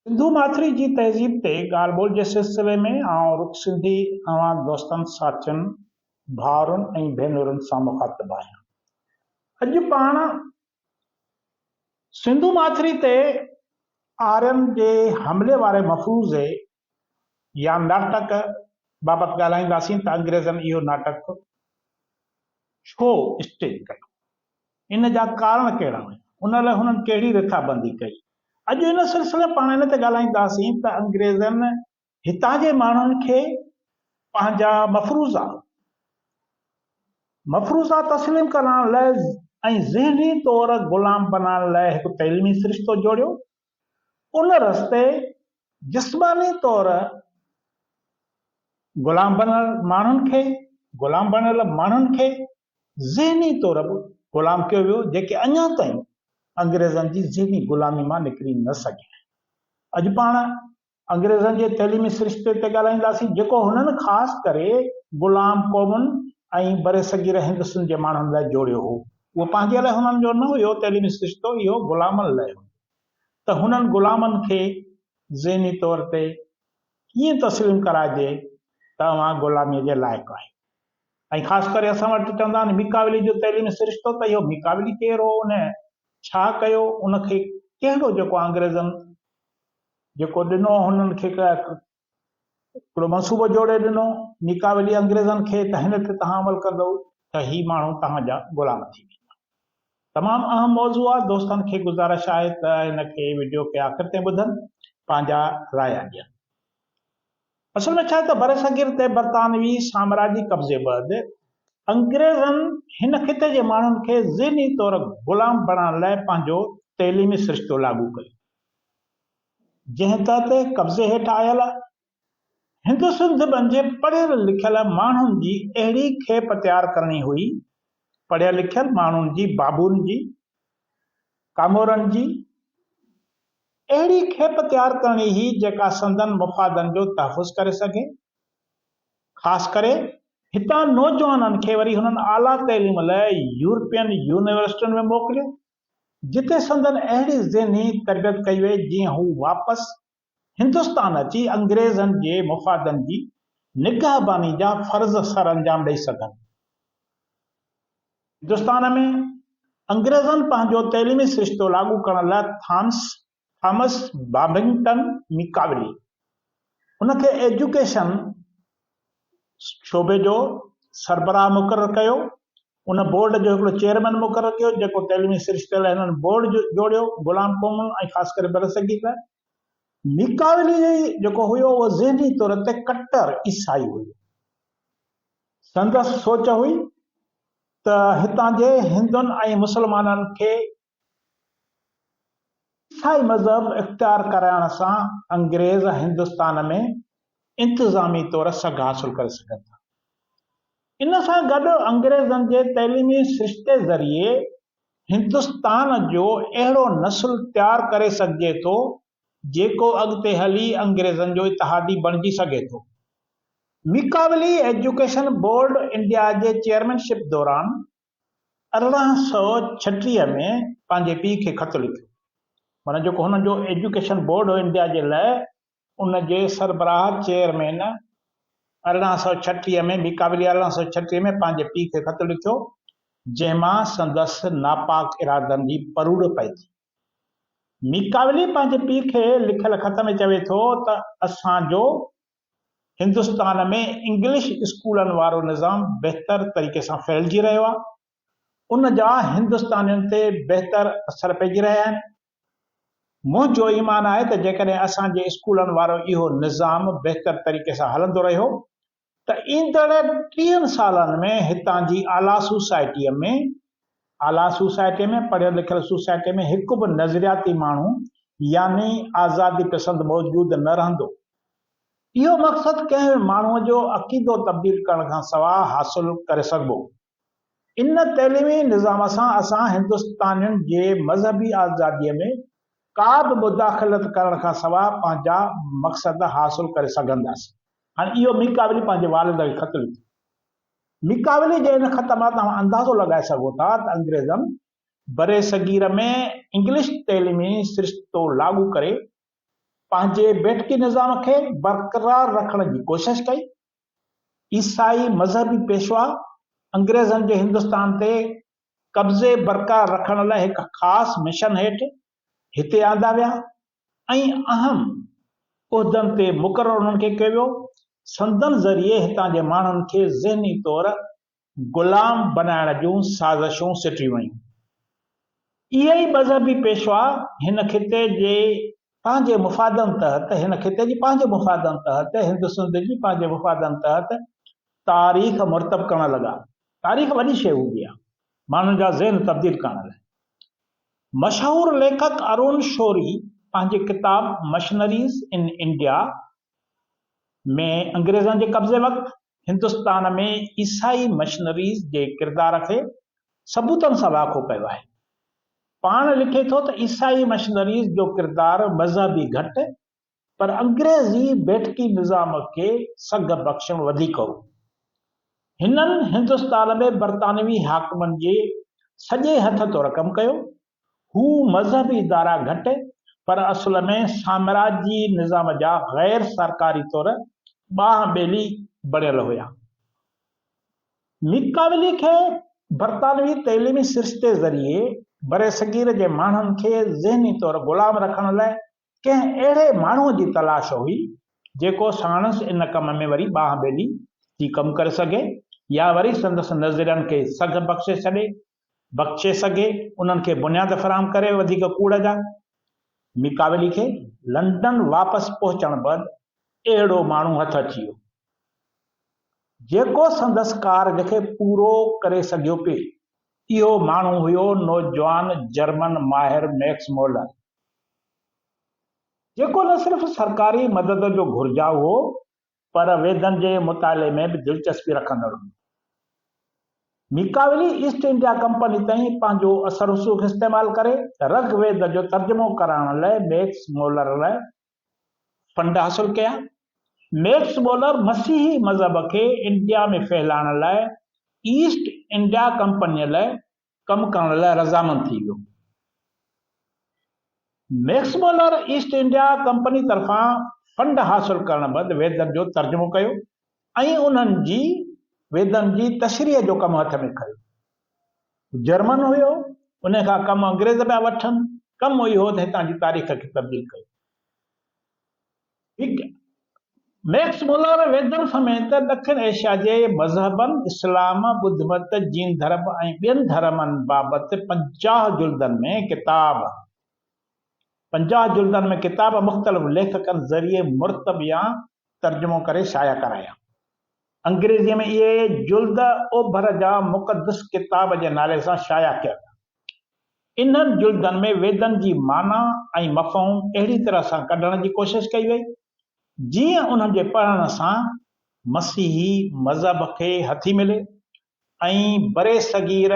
سنڌو ماٿري جي تهذيب تي ڳالهه ٻولهه جي سلسلي ۾ آئون رڳو سنڌي اوهان دوستن، ساٿين، ڀائرن ۽ ڀينرن سان مخاطب آهيان. اڄ پاڻ سنڌو ماٿري تي آرين جي حملي واري مفروضي يا ناٽڪ بابت ڳالهائينداسين ته انگريزن اهو ناٽڪ ڇو اسٽيج ڪيو؟ ان جا ڪارڻ ڪهڙا هيا؟ ان لاء هنن ڪهڙي رٿابندي ڪئي؟ اڄ ان سلسلي ۾ پاڻ ان تي ڳالهائينداسين ته انگريزن هتان جي ماڻهن کي پنهنجا مفروضا مفروضا تسليم ڪرائڻ لاء ۽ ذهني طور غلام بنائڻ لاء هڪ تعليمي سرشتو جوڙيو ان رستي جسماني طور غلام بڻيل ماڻهن کي غلام بڻيل ماڻهن کي ذهني طور به غلام ڪيو ويو جيڪي اڃا تائين انگريزن جي ذهني غلامي مان نڪري نه سگهيا آهن. اڄ پاڻ انگريزن جي تعليمي سرشتي تي ڳالهائينداسين، جيڪو هنن خاص ڪري غلام قومن ۽ برصغير هند سنڌ جي ماڻهن لاء جوڙيو هو. اهو پنهنجي لاء هنن جو نه هيو، تعليمي سرشتو اهو غلامن لاء هيو ته هنن غلامن کي ذهني طور تي ڪيئن تسليم ڪرائجي ته اوهان غلاميء جي لائق آهيو ۽ خاص ڪري اسان وٽ چوندا آهن ميڪاويلي جو تعليمي سرشتو ته اهو ميڪاويلي ڪير هو، ان ڇا ڪيو، ان کي ڪهڙو جيڪو انگريزن جيڪو ڏنو هنن کي هڪڙو منصوبو جوڙي ڏنو، نيڪا ويلي انگريزن کي ته هن تي توهان عمل ڪندؤ ته هي ماڻهو توهان جا غلام ٿي ويندا. تمام اهم موضوع آ، دوستن کي گذارش آهي ته هن کي وڊيو کي آخر تائين ٻڌن پنهنجا رايا ڏين. اصل ۾ ڇاهي ته برصغير تي برطانوي سامراجي قبضي بعد انگريزن هن خطي جي ماڻهن کي ذهني طور غلام بڻائڻ لاء پنهنجو تعليمي سرشتو لاڳو ڪيو. جنهن تحت قبضي هيٺ آيل هندسنڌ ٻن جي پڙهيل لکيل ماڻهن جي اهڙي کيپ تيار ڪرڻي هئي، پڙهيل لکيل ماڻهن جي بابون جي، ڪامورن جي اهڙي کيپ تيار ڪرڻي هئي جيڪا سندن مفادن جو تحفظ ڪري سگهي، خاص ڪري هتان نوجوانن کي وري هنن اعليٰ تعليم لاء يورپين يونيورسٽين ۾ موڪليو. جتي سندن اهڙي ذهني تربيت ڪئي وئي جيئن هو واپس هندستان اچي انگريزن جي مفادن جي نگهباني جا فرض سرانجام ڏئي سگهن. هندستان ۾ انگريزن پنهنجو تعليمي سرشتو لاڳو ڪرڻ لاء ٿانس ٿامس بابنگٽن ميڪاولي هن کي ايجوڪيشن شعبي جو سربراهه مقرر ڪيو. ان بورڊ جو هڪڙو چيئرمين مقرر ڪيو، جيڪو تعليمي سرشتي لاء هنن بورڊ جوڙيو، غلام قومن ۽ خاص ڪري برصغير لاء. ميڪاولي جيڪو هيو اهو ذهني طور تي ڪٽر عيسائي هيو. سندس سوچ هئي ته هتان جي هندن ۽ مسلمانن کي عيسائي مذهب اختيار ڪرائڻ سان انگريز هندستان ۾ انتظامي طور سگهه حاصل ڪري سگهن ٿا. ان سان گڏ انگريزن جي تعليمي سرشتي ذريعي هندستان جو اهڙو نسل تيار ڪري سگهجي ٿو جيڪو اڳتي هلي انگريزن جو اتحادي بڻجي سگهي ٿو. ميڪاولي ايجوڪيشن بورڊ انڊيا جي چيئرمين شپ دوران ارڙهن سؤ ڇٽيهه ۾ پنهنجي پيء کي خط لکيو معنيٰ جيڪو هن جو ايجوڪيشن بورڊ هو انڊيا جي لاء ان جي سربراهه چيئرمين ارڙهن سؤ ڇٽيهه ۾ به قابلي ارڙهن سؤ ڇٽيهه ۾ پنهنجي پيء کي خط لکيو جنهن مان سندس ناپاڪ ارادن جي پروڙ پئي ٿي ميڪاولي پنهنجي پيء کي لکيل خط ۾ چوي ٿو ته اسان جو هندستان ۾ انگلش اسڪولن وارو نظام بهتر طريقي سان ڦهلجي رهيو آهي، ان جا هندستانين تي بهتر اثر پئجي رهيا آهن. منهنجو ايمان آهي ته جيڪڏهن اسان جي اسڪولن وارو اهو نظام بهتر طريقي سان هلندو رهيو ته ايندڙ ٽيهن سالن ۾ هتان جي اعليٰ سوسائٽيء ۾ اعليٰ سوسائٽيء ۾ پڙهيل لکيل سوسائٽيء ۾ هڪ به نظرياتي ماڻهو يعني آزادي پسند موجود نه رهندو. اهو مقصد ڪنهن ماڻهوء جو عقيدو تبديل ڪرڻ کان سواء حاصل ڪري سگهبو. ان تعليمي نظام سان اسان هندستانين جي مذهبي آزاديء ۾ ڪا به مداخلت ڪرڻ کان سواء پنهنجا مقصد حاصل ڪري سگهنداسين. هاڻي اهو ميڪاولي پنهنجي والد کي خط لکيو. ميڪاولي جي ان خط مان توهان اندازو لڳائي سگهو ٿا ته انگريزن برصغير ۾ انگلش تعليمي سرشتو لاڳو ڪري پنهنجي بيٺڪي نظام کي برقرار رکڻ جي ڪوشش ڪئي. عيسائي مذهبي پيشوا انگريزن جي هندستان تي قبضي برقرار رکڻ لاء هڪ خاص مشن هيٺ هتي آندا ويا ۽ اهم عهدن تي مقرر انهن کي ڪيو ويو. سندن ذريعي هتان جي ماڻهن کي ذهني طور غلام بنائڻ جون سازشون سٽيون ويون. اهي ئي مذهبي پيشوا هن خطي جي پنهنجي مفادن تحت هن خطي جي پنهنجي مفادن تحت هندسنڌ جي پنهنجي مفادن تحت تاريخ مرتب ڪرڻ لڳا. تاريخ وڏي شيء هوندي آهي ماڻهن جا ذهن تبديل ڪرڻ لاء. مشهور ليکڪ ارون شوري پنهنجي ڪتاب مشنريز ان انڊيا ۾ انگريزن جي قبضي وقت هندستان ۾ عيسائي مشنريز جي ڪردار کي ثبوتن سان واکو ڪيو آهي. پاڻ لکي ٿو ته عيسائي مشنريز جو ڪردار مذهبي گهٽ پر انگريزي بيٺڪي نظام کي سگهه بخشڻ وڌيڪ هو. هنن هندستان ۾ برطانوي حاڪمن جي سڄي هٿ تورڪم ڪيو. هو مذهبي ادارا گهٽ پر اصل ۾ سامراجي نظام جا غير سرڪاري طور ٻانهن ٻيلي بڻيل هيا. ميڪاولي کي برطانوي تعليمي سرشتي ذريعي برصغير جي ماڻهن کي ذهني طور غلام رکڻ لاء ڪنهن اهڙي ماڻهوء جي تلاش هئي، جيڪو ساڻس ان ڪم ۾ وري ٻانهن ٻيلي ٿي ڪم ڪري سگهي يا وري سندس نظرين کي سگهه بخشي ڇڏي، بخشي سگهي، انهن کي بنياد فراهم ڪري وڌيڪ ڪوڙ جا. ميڪاولي کي لنڊن واپس پهچڻ بعد اهڙو ماڻهو هٿ اچي ويو، جيڪو سندس ڪارج کي پورو ڪري سگهيو پي. اهو ماڻهو هيو نوجوان جرمن ماهر ميڪس مولر، جيڪو نه صرف سرڪاري مدد جو گهرجائو هو پر ويدن جي مطالعي ۾ به دلچسپي رکندڙ هو. ميڪاولي ايسٽ انڊيا ڪمپني تائين پنهنجو اثر رسوخ استعمال ڪري رگ ويد جو ترجمو ڪرائڻ لاء ميڪس مولر لاء فنڊ حاصل ڪيا. ميڪس مولر مسيحي مذهب کي انڊيا ۾ ڦهلائڻ لاء ايسٽ انڊيا ڪمپنيء لاء ڪم ڪرڻ لاء رضامند ٿي ويو. Max Muller East India company طرفان فنڊ حاصل ڪرڻ بعد ويدن جو ترجمو ڪيو ۽ انهن جي ويدن جي تشريح جو ڪم هٿ ۾ کنيو. هو جرمن هيو، انهي کان ڪم انگريز پيا وٺن، ڪم اهو ته هتان جي تاريخ کي تبديل ڪيو. هڪ ميڪس مولر ويدن سميت ڏکڻ ايشيا جي مذهبن، اسلام، ٻڌ مت، جين ڌرم ۽ ٻين ڌرمن بابت پنجاهه جلدن ۾ ڪتاب پنجاهه جلدن ۾ ڪتاب مختلف ليکڪن ذريعي مرتب يا ترجمو ڪري شايع ڪرايا. انگريزيء ۾ اهي جلد اوڀر جا مقدس ڪتاب جي نالي سان شايع ڪيا ويا. انهن جلدن ۾ ويدن جي معنيٰ ۽ مفهوم اهڙي طرح سان ڪڍڻ جي ڪوشش ڪئي وئي، جيئن انهن جي پڙهڻ سان مسيحي مذهب کي هٿي ملي ۽ برصغير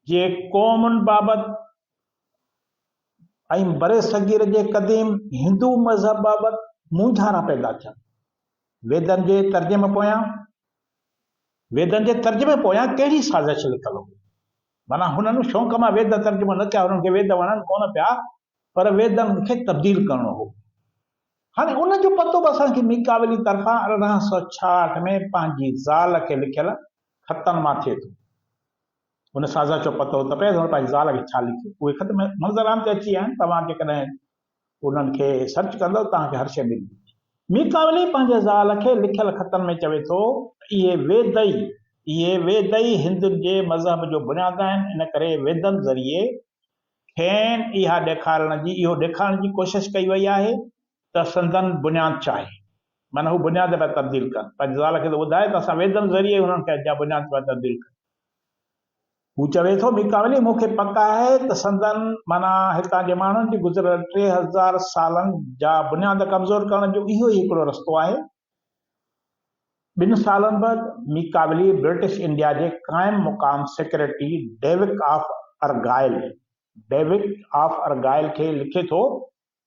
جي قومن بابت ۽ برصغير جي قديم هندو مذهب بابت مونجهارا پيدا ٿين. ويدن جي ترجمي پويان ويدن جي ترجمي پويان ڪهڙي سازش لڪل هئي؟ معنيٰ هنن شونق مان ويد ترجمو نه ڪيا، هنن کي ويد وڻن ڪونه پيا، پر ويدن کي تبديل ڪرڻو هو. هاڻي ان جو پتو به اسان کي ميڪاولي طرفان ارڙهن سؤ ڇاهٺ ۾ پنهنجي زال کي لکيل خطن مان ٿئي ٿو. ان سازش جو پتو ته پئي ته هن پنهنجي زال کي ڇا لکيو. اهي خط منظر عام تي اچي ويا آهن، توهان جيڪڏهن انهن کي سرچ ڪندؤ توهان کي هر شيء ملي ويندي. ميڪاولي پنهنجي زال کي لکيل خطن ۾ چوي ٿو ته اهي ويد ئي، اهي ويد ئي هندن جي مذهب جو بنياد آهن، ان ڪري ويدن ذريعي کين اها ڏيکارڻ جي، اهو ڏيکارڻ جي ڪوشش ڪئي وئي آهي ته سندن بنياد ڇا آهي. معنيٰ هو بنياد پيا تبديل ڪن. پنهنجي زال کي ٿو ٻڌائي ته اسان ويدن ذريعي انهن کي جا بنياد پيا تبديل ڪيون. هو چوي ٿو، ميڪاولي، مون کي پڪ آهي ته سندن، معنيٰ هتان جي ماڻهن جي گذريل ٽي هزار سالن جا بنياد ڪمزور ڪرڻ جو اهو ئي هڪڙو رستو آهي. ٻن سالن بعد، ميڪاولي برٽش انڊيا جي قائم مقام secretary Duke of Argyll, Duke of Argyll، کي لکي ٿو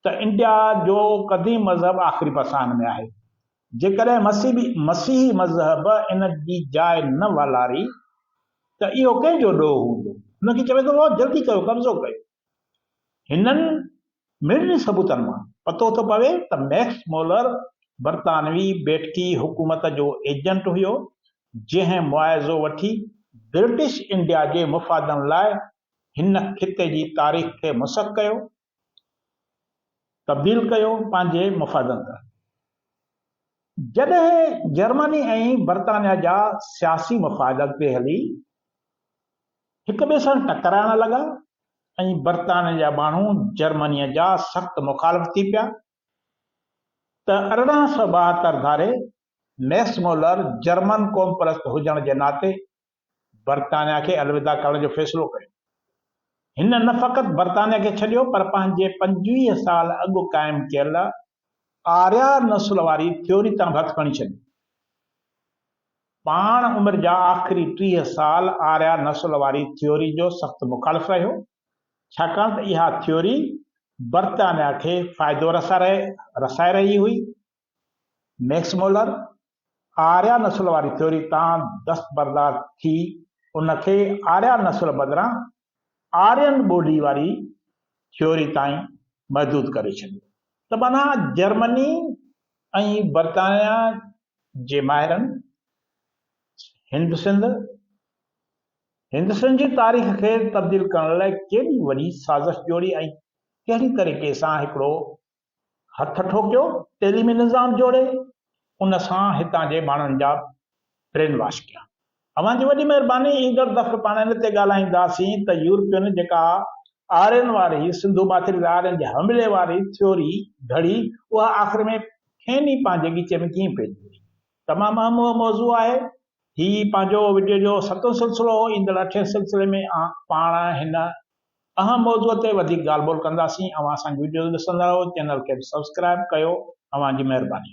ته انڊيا جو قديم مذهب آخري پساهن ۾ آهي. جيڪڏهن مسيبي مسيحي مذهب ان جي جاء نه والاري ته اهو ڪنهن جو ڏوهه هوندو؟ هن کي چوي ٿو واهه جلدي ڪيو قبضو ڪيو. هنن مڙني ثبوتن مان پتو ٿو پوي ته ميڪس مولر برطانوي بيٺڪي حڪومت جو ايجنٽ هيو جنهن معاوضو وٺي برٽش انڊيا جي مفادن لاء هن خطي جي تاريخ کي مسخ ڪيو تبديل ڪيو پنهنجي مفاد اندر. جڏهن جرمني ۽ برطانيا جا سياسي مفاد اڳتي هلي هڪ ٻئي سان ٽڪرائڻ لڳا ۽ برطانيا جا ماڻهو جرمني جا سخت مخالف ٿي پيا ته ارڙهن سؤ ٻاهتر ڌاري ميڪس مولر جرمن قومپرست هجڻ جي ناتي برطانيا کي الوداع ڪرڻ جو فيصلو ڪيو. هن نه فقط برطانيا کي ڇڏيو پر پنهنجي پنجويهه سال اڳ قائم ڪيل آريا نسل واري ٿيوري تان به هٿ کڻي ڇڏيو. پاڻ عمر جا آخري ٽيهه سال آريا نسل واري ٿيوري جو سخت مخالف رهيو، ڇاڪاڻ ته اها ٿيوري برطانيا کي فائدو رسائي رهي هئي ميڪس مولر آريا نسل واري ٿيوري تان دستبردار ٿي ان کي آريا نسل بدران آرين ٻولي واري ٿيوري تائين محدود ڪري ڇڏيو ته معنيٰ جرمني ۽ برطانيا جي ماهرن هند سنڌ هند سنڌ جي تاريخ کي تبديل ڪرڻ لاء ڪيڏي وڏي سازش جوڙي ۽ ڪهڙي طريقي سان هڪڙو هٿ ٺوڪيو تعليمي نظام جوڙي ان سان هتان جي ماڻهن جا برين واش ڪيا. اوهان جي وڏي مهرباني ايندڙ دفعي پاڻ ان تي ڳالهائينداسين ته يورپين جيڪا آرين واري سنڌو ماٿري تي آرين جي حملي واري ٿيوري گهڙي اها آخر ۾ کين ئي پنهنجي ڳچي ۾ ڪيئن پئجي وئي. تمام اهم موضوع آهي. هي پنهنجو وڊيو جو ستون سلسلو هو ايندڙ اٺين سلسلي ۾ آئون پاڻ هن اھان موضوع تي وڌيڪ ڳالھ ٻولھ ڪنداسين اوھان اسانجي وڊيوز ڏسندا رھو چينل کي به سبسڪرائب ڪيو اوھان جي مھرباني.